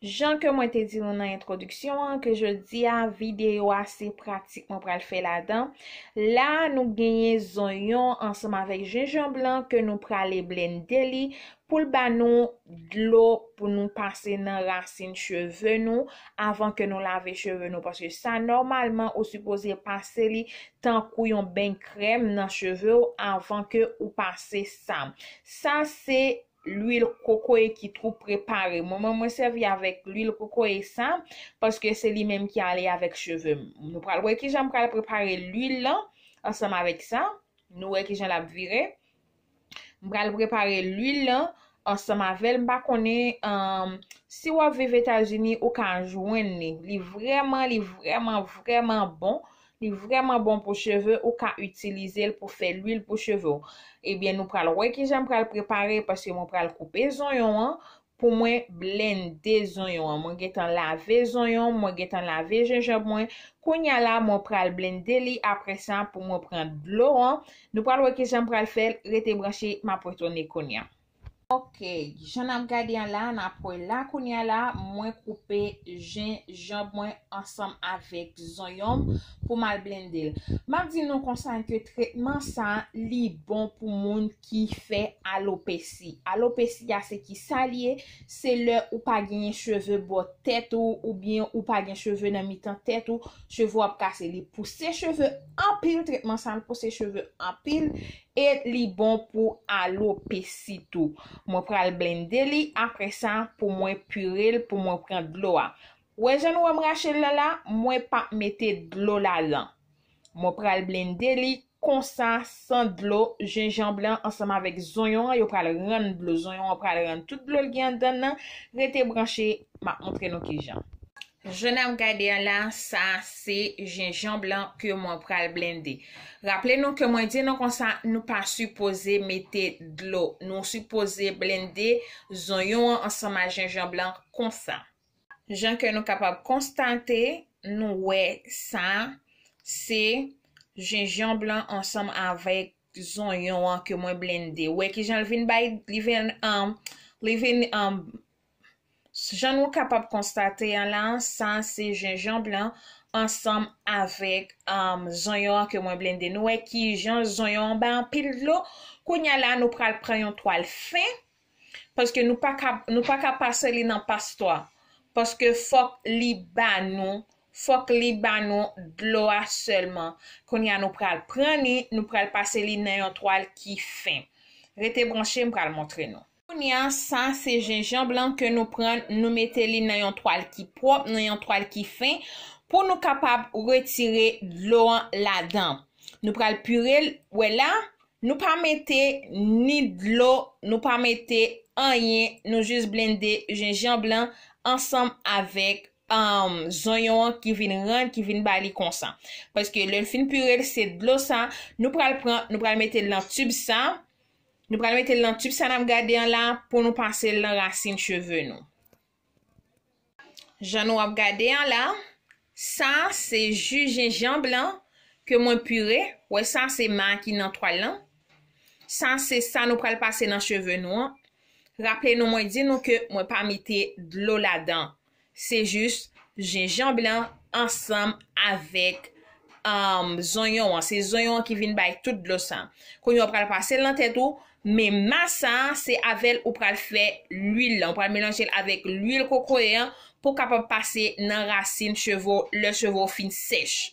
Jan ke mwen te di nou nan entwodiksyon an, ke jodi a, videyo a se pratik mwen pral fè ladan. La a, nou genyen zonyon ansanm avèk jenjanb lan ke nou prale blende li pou l ba nou dlo pou nou pase nan rasin cheve nou avan ke nou lave cheve nou paske sa nòmalman ou sipoze pase li tankou yon beny krèm nan cheve ou avan ke ou pase sa. Sa se lwil kokoye ki tou prepare. Mwen menm mwen sèvi avèk lwil kokoye sa, paske se li menm ki ale avèk cheve m. Nou pral wè kijan m pral prepare lwil lan ansanm avèk sa. Nou wè kijan l ap vire. M pral prepare lwil lan ansanm avè l. M pa konnen si w ap viv Etazini ou ka jwenn li. Li vrèman, li vrèman, vrèman bon. Li vrèman bon pou cheve ou ka itilizel pou fè lwil pou cheve w. Ebyen nou pral wè kijan pral prepare paske mwen pral koupe zonyon an pou mwen blende zonyon an mwen gentan lave zonyon mwen gentan lave jenjanb mwen kounya la mwen pral blende li aprè sa pou mwen pran dlo an nou pral wè kijan pral fèl rete branche map retounen kounya. Ok jan nap gade an la nap wè la kounya la mwen koupe jen janb mwen ansanm avèk zonyonm pou mal blendel map di nou konsa ke tretman sa li bon pou moun ki fè alopesi alopesi ya se ki sa li ye se lè ou pa genyen cheve bò tèt ou ou byen ou pa gen cheve nan mitan tèt ou cheve wap kase li pouse cheve anpil tretman sa pouse cheve anpil E li bon pou alopesi tou. Mwen pral blende li apre sa pou mwen pure l pou mwen pran dlo a. Wè jan nou wè m rache l la la, mwen pa mete dlo ladan. Mwen pral blende li konsa san dlo, jenjanb lan ansanm avèk zonyon an yo pral rann dlo, zonyon an pral rann tout dlo l gen anndan l lan, rete branche, m ap montre nou kijan. Jan nap gade a la, sa se jenjanb lan ke mwen pral blende. Raple nou ke mwen di nou konsa, nou pa sipoze mete dlo. Nou sipoze blende zonyon an ansanm a jenjanb lan konsa. Jan ke nou kapab konstate, nou wè sa se jenjanb lan ansanm avèk zonyon an ke mwen blende. Ou wè kijan li vin bay, li vin, li vin Jan nou kapab konstate an la, sa a se jenjanb lan ansanm avèk zonyon an ke mwen blende. Nou wè ki jan zonyon an bay anpil dlo. Kounye a la nou pral pran yon twal fen, paske nou pa ka, nou pa ka pase li nan pastwa. Paske fòk li ba nou, fòk li ba nou dlo a sèlman. Kounye a nou pral pran li, nou pral pase li nan yon twal ki fen. Rete branche, m pral montre nou. Kounya sa se jenjanb lan ke nou pran nou mete li nan yon twal ki pwòp, nan yon twal ki fen pou nou kapab retire dlo an ladan. Nou pral pire l, wè la, nou pa mete ni dlo, nou pa mete anyen, nou jis blende jenjanb lan ansanm avèk zonyon an ki vin rann, ki vin ba li konsa. Paske lè n fin pire l, se dlo sa nou pral pran, nou pral mete l nan tib sa, Nou pral mete l nan tip sa nap gade an la pou nou pase l nan rasin cheve nou. Jan nou ap gade an la, sa se ju jenjanb lan ke mwen pire, wè sa se ma ki nan twal lan. Sa se sa nou pral pase nan cheve nou an. Raple nou mwen di nou ke mwen pa mete dlo ladan. Se jis jenjanb lan ansanm avèk zonyon an. Se zonyon an ki vin bay tout dlo sa. Kounye a ou pral pase l nan tèt ou, men mas sa se avè l ou pral fè lwil lan. Ou pral melanje l avèk lwil kokoye an pou kapab pase nan rasin cheve w lè cheve w fin sèch.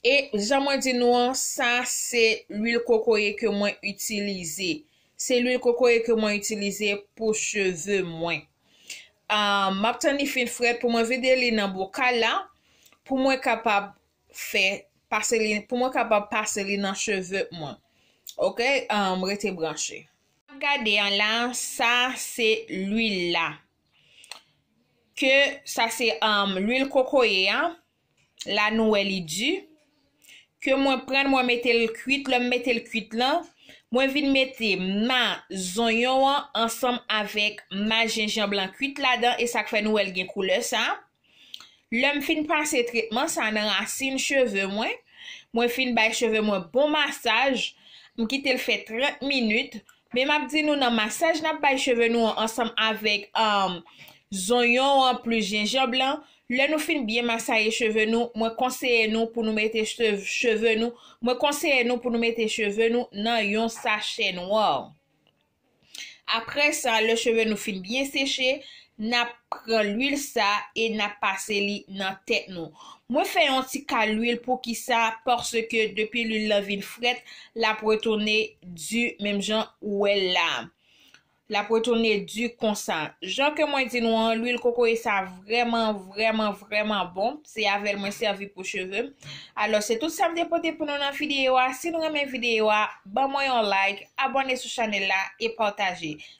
E jan mwen di nou an, sa se lwil kokoye ke mwen itilize. Se lwil kokoye ke mwen itilize pou cheve mwen. M ap tann li fin frèt pou mwen vide li nan bokal la, pou mwen kapab fè, pase li, pou mwen kapab pase li nan cheve mwen. Ok, rete branche. Sa n ap gade an la, sa se lwil la. Ke sa se lwil kokoye a, la nou wè li di, ke mwen prann mwen mete l kwit lè m mete l kwit lan mwen vin mete ma zonyon an ansanm avèk ma jenjanb lan kwit ladan esak fè nou wè l gen koulè sa, lè m fin pase tretman sa nan rasin cheve mwen, mwen fin bay cheve mwen bon masaj m kite l fè 30 minit Men map di nou nan masaj nap bay cheve nou an ansanm avèk zonyon an plis jenjanb lan, lè nou fin byen masaye cheve nou, mwen konseye nou pou nou mete cheve nou, mwen konseye nou pou nou mete cheve nou nan yon sachè nwa. Aprè sa lè cheve nou fin byen seche, Nap pran lwil sa e nap pase li nan tèt nou. Mwen fè yon ti ka lwil poukisa paske depi lwil lan vin frèt lap retounen di menm jan ou wèl la. Lap retounen di konsa. Jan ke mwen di nou an lwil kokoye sa vrèman vrèman vrèman bon. Se avèl mwen sèvi pou chevem. Alò se tout sam te pote pou nou nan videyo a. Si nou renmen videyo a ban mwen yon like, abòne sou chanèl la e pataje.